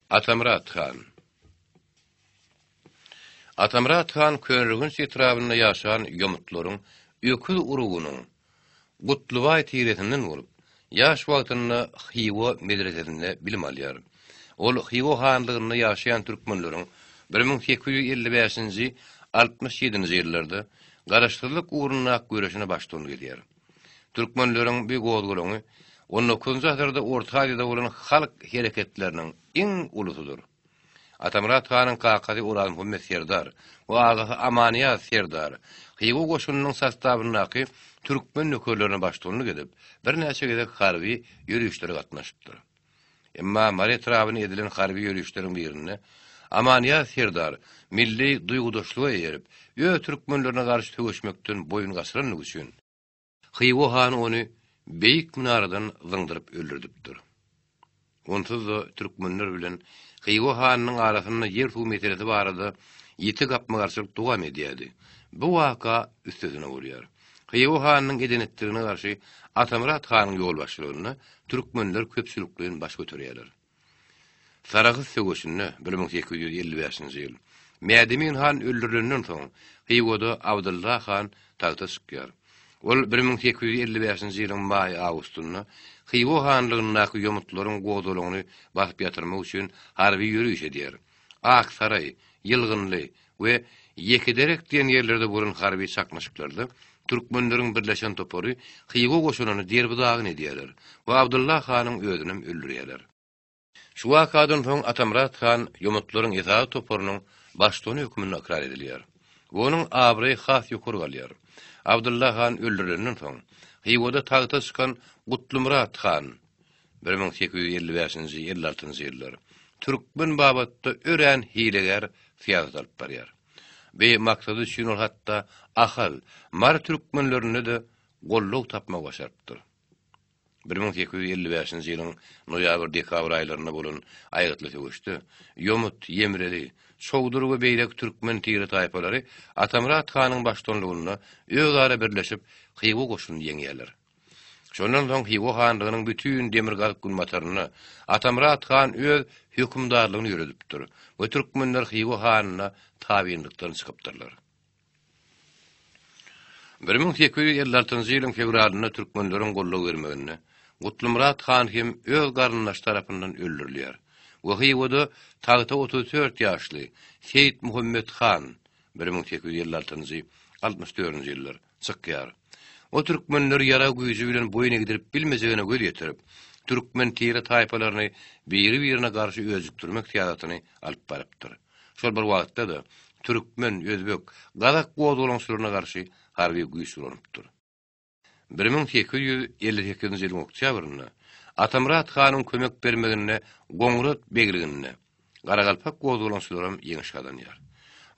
Atamyrat han Atamyrat han Köneürgenç etrabynda ýaşan ýomutlaryň öküz urugynyň Gutlybaý tiresinden bolup, ýaş wagtynda Hywa medresesinde bilim alýar. Ol Hywa hanlygynda ýaşaýan türkmenleriň bir müň sekiz ýüz elli bäşinji, altmyş ýedinji ýyllarda garaşsyzlyk ugrunda ak göreşine baştuny gezýär. Türkmenleriň bu gozgalaňy on dokuzynjy asyrda Orta Aziýada bolan halk hereketleriniň iň ulusydyr. Atamyrat hanyň kakasy Orazmuhammet serdar we agasy Amanyýaz serdar Hywa goşunynyň sostawyndaky türkmen nökerlerine baştuganlyk edip, birnäçe gezek harby ýörişlere gatnaşypdyr. Emma Mary etrabyna edilen harby ýörişleriň birinde Amanýaz serdar milli duýgudaşlyga eýerip, öz türkmenlerine garşy söweşmekden boýun gaçyrandygy üçin, Hywa hany ony beýik minaradan zyňdyryp öldürdipdir. Onsuz-da türkmenler bilen Hywa hanynyň arasynda ýer-suw meselesi barada ýiti gapma-garşylyk dowam edýärdi. Bu waka üstesine bolýar. Hywa hanynyň eden-etdigine garşy Atamyrat hanyň ýolbaşçylygynda türkmenler köpçülikleýin baş göterýärler. Sarahs söweşinde, bir müň sekiz ýüz elli bäşinji ýyl, Mädemin han öldürilenden soň, Hywada Abdylla han tagta çykýar. Ol bir müň sekiz ýüz elli bäşinji ýylyň maý-awgustynda Hywa hanlygyndaky ýomutlaryň gozalygyny basyp ýatyrmak üçin harby ýöriş edýär. Aksaraý, Ýylgynly we Ýekederek diýen ýerlerde bolan harby çaknyşyklarda türkmenleriň birleşen topary Hywa goşunyny derbi-dagyn edýärler we Abdylla hanyň özünem öldürýärler. Şu wakadan soň Atamyrat han ýomutlaryň esasy toparynyň baştutany hökmünde ykrar edilýär we onuň abraýy has ýokary galýar. Abdylla han öldürilenden soň, Hywada tagta çykan Gutlymyrat han, bir müň sekiz ýüz elli bäşinji, elli altynjy ýyllar, türkmen babatda örän hilegär syýasat alyp barýar. Bi maksady üçin ol hatda ahal, mary türkmenlerinde-de goldaw tapmagy başarypdyr. Bir müň sekiz ýüz elli bäşinji ýylyň noýabr-dekabr aýlarynda bolan aýgytly söweşde Ýomut, Ýemreli, Çowdur we beýleki türkmen tire-taýpalary Atamyrat hanyň başdanlygynda özara birleşip, Hywa goşunyny ýeňýärler. Şondan soň Hywa hanlygynyň bütin demirgazyk-günbatarynda Atamyrat han öz hökümdarlygyny ýöredipdir we türkmenler Hywa hanyna tabynlykdan çykypdyrlar. Bir müň sekiz ýüz elli altynjy ýylyň fewralynda türkmenleriň goldaw bermeginde Gutlymyrat han hem öz garyndaşy tarapyndan öldürilýär we Hywada tagta otuz dört ýaşly Seýitmuhammet han, bir müň sekiz ýüz elli altynjy, altmyş dördünji ýyllar, Çykýar. O türkmenler ýarag güýji bilen boýun egdirip bilmejegine göz ýetirip, türkmen tire-taýpalaryny biri-birine garşy öjükdirmek syýasatyny alyp barypdyr. Şol bir wagtda-da, türkmen, özbek, gazak gozgalaňçylaryna garşy harby güýç ulanypdyr. Bir müň sekiz ýüz elli sekizinji ýylyň oktýabrynda Atamyrat hanyň kömek bermeginde Goňurat begliginde, Garagalpak gozgalaňçylaram ýeňiş gazanýar.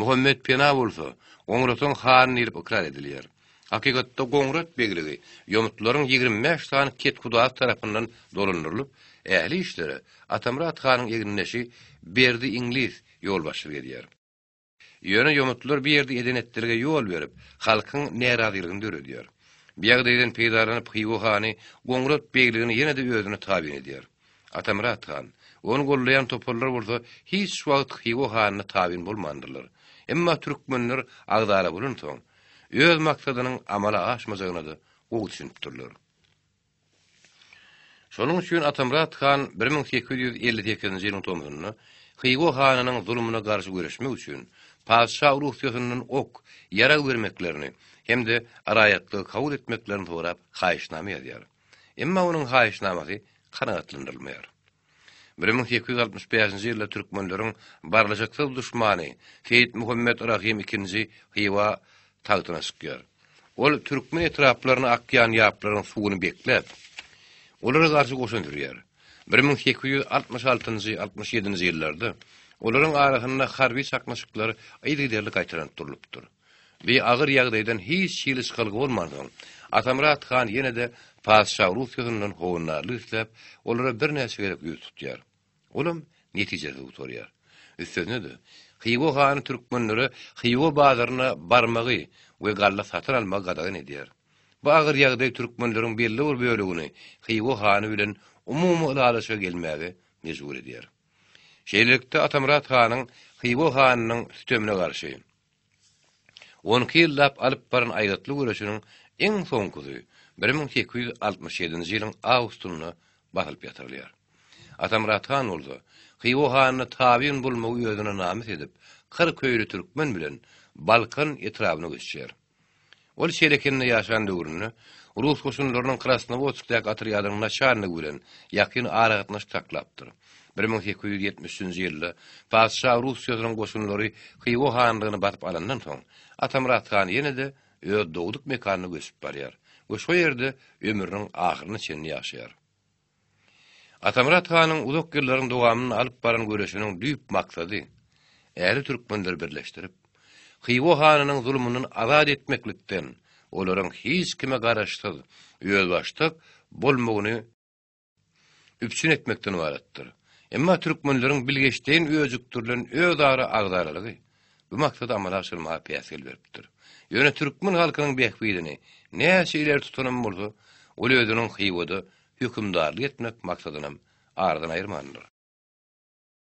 Muhammet Pena bolsa, Goňratyň hany diýlip ykrar edilýär. Hakykatda Goňrat begligi ýomutlaryň ýigrimi bäş sany kethudaýy tarapyndan dolandyrylyp, ähli işlere Atamyrat hanyň egindeşi Berdi Iňlis ýolbaşçylyk edýär. Ýöne ýomutlar bu ýerde eden-etdilge ýol berip, halkyň närazylygyny döredýär. Bu ýagdaýdan peýdalanyp Hywa hany Goňrat begligini ýene-de özüne tabyn edýär. Atamyrat han, ony goldaýan toparlar bolsa hiç wagt Hywa hanyna tabyn bolmandyrlar. Emma türkmenler agzara bolansoň, öz maksadynyň amala aşmajagyna-da gowy düşünipdirler. Şonuň üçin Atamyrat han bir müň sekiz ýüz elli sekizinji ýylyň tomzunda Hywa hanynyň zulumyna garşy göreşmek üçin patyşa Russiýasyndan ok, ýarag bermeklerini hem-de raýatlygy kabul etmeklerini sorap haýyşnama ýazýar. Emma onuň haýyşnamasy kanagatlandyrylmaýar. Bir müň sekiz ýüz altmyş bäşinji ýylda türkmenleriň barlyşyksyz duşmany Seýit Muhammet Rahym ikinji Hywa tagtyna çykýar. Ol türkmen etraplaryna akýan ýaplaryň suwuny bekläp, olara garşy goşun sürýär. Bir müň sekiz ýüz altmyş altynjy, altmyş ýedinji ýyllarda olaryň arasynda harby çaknyşyklar yzygiderli gaýtalanyp durlupdyr. Bi agyr ýagdaýdan hiç hili çykalga bolmansoň, Atamyrat han ýene-de patyşa Russiýasyndan howandarlyk isläp, olara birnäçe gezek ýüz tutýar. Olam netijesiz gutarýar. Üstesine-de, Hywa hany türkmenlere Hywa bazaryna barmagy we galla satyn almagy gadagan edýär. Bu agyr ýagdaý türkmenleriň belli bir bölegini Hywa hany bilen umumy ylalaşyga gelmäge mejbur edýär. Şeýlelikde, Atamyrat hanyň Hywa hanynyň sütemine garşy, On iki ýyllap alyp baran aýgytly göreşiniň iň soňkusy bir müň sekiz ýüz altmyş ýedinji ýylyň awgustynda basylyp ýatyrylýar. Atamyrat han bolsa, Hywa hanyny tabyn bolmagy özüne namys edip, kyrk öýli türkmen bilen Balkan etrabyna göçýär. Ol Şerekende ýaşan döwründe rus goşunlarynyň Krasnowodskdaky otrýadynyň naçalnigi bilen ýakyn aragatnaşyk saklapdyr. Bir müň sekiz ýüz ýetmiş üçünji ýylda patyşa Russiýasynyň goşunlary Hywa hanlygyny basyp alandan soň, Atamyrat han ýene-de öz dogduk mekanyna göçüp barýar we şo ýerde ömrüniň ahyryna çenli ýaşaýar. Atamyrat hanyň uzak ýyllaryň dowamynda alyp baran göreşiniň düýp maksady, ähli türkmenleri birleşdirip, Hywa hanynyň zulumyndan azat etmeklikden, olaryň hiç kime garaşsyz, özbaşdak bolmagyny üpjün etmekden ybaratdyr. Emma türkmenleriň bilgeşleýin öjükdirilen özara agzalarygy, bu maksady amala aşyrmaga päsgel beripdir. Ýöne türkmen halkynyň bähbidini näçe ileri tutanam bolsa, ol özüniň Hywada hökümdarlyk etmek maksadynam aradan aýyrmandyr.